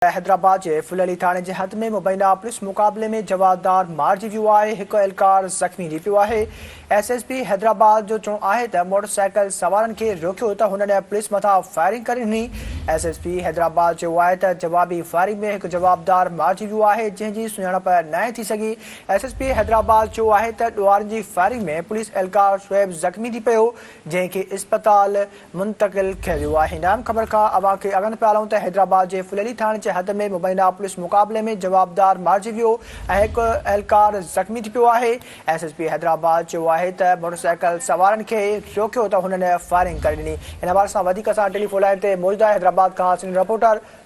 حيدرآباد جي ڦلهڙي ٿاڻي جي حد ۾ مبينا پوليس مقابلي ۾ جوابدار مارجي ويو آهي، هڪ اهلڪار زخمي ٿي پيو آهي، ايس ايس پي حيدرآباد جو چوڻ آهي ته موٽر سائيڪل سوارن کي روڪيو ته هنن پوليس مٿان فائرنگ ڪري ڏني، ايس ايس پي حيدرآباد چيو آهي ته جوابي فائرنگ ۾ هڪ جوابدار مارجي ويو آهي جنهن جي سڃاڻپ ناهي ٿي سگهي، ايس ايس پي حيدرآباد چيو آهي ته ڏوهارين جي فائرنگ ۾ پوليس اهلڪار شعيب زخمي ٿي پيو جنهن کي اسپتال. منتقل ٿي ويو آهي نرم خبر کان اوهان کي اڳن پيارون ته حيدرآباد جي ڦليلي ٿاڻي جي حد ۾ مبينا پوليس مقابلي ۾ جوابدار مارجي ويو ۽ هڪ اهلڪار زخمي ٿي پيو آهي ايس ايس پي حيدرآباد چيو آهي ته موٽرسائيڪل سوارن کي روڪيو ته هنن فائرنگ ڪري ڏني ان حوالي سان وڌيڪ اسان ٽيليفون لائين تي موجوده حيدرآباد کان سينيئر رپورٽر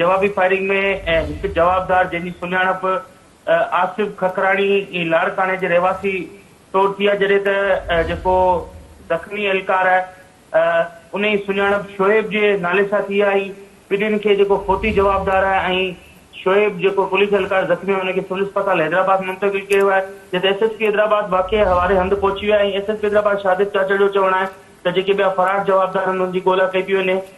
جوابي فائرنگ ۾ هڪ جوابدار جنهن جي سڃاڻپ آصف ککراڻي لاڙڪاڻي جي رهواسي طور ٿي آهي جڏهن ته جيڪو زخمي اهلڪار آهي ان جي سڃاڻپ شعيب جي نالي سان ٿي آهي ٻنهين کي جيڪو فوتي جوابدار آهي ۽ شعيب جيڪو پوليس اهلڪار زخمي آهي ان کي سول اسپتال حيدرآباد منتقل ڪيو آهي جت ايس ايس پي حيدرآباد واقعي حوالي هنڌ پهچي ويو آهي ۽ S S P Hyderabad Shahid Chachar جو چوڻ آهي ته جيڪي ٻيا فرار جوابدار آهن ان جي ڳولا ڪئي پئي وڃي.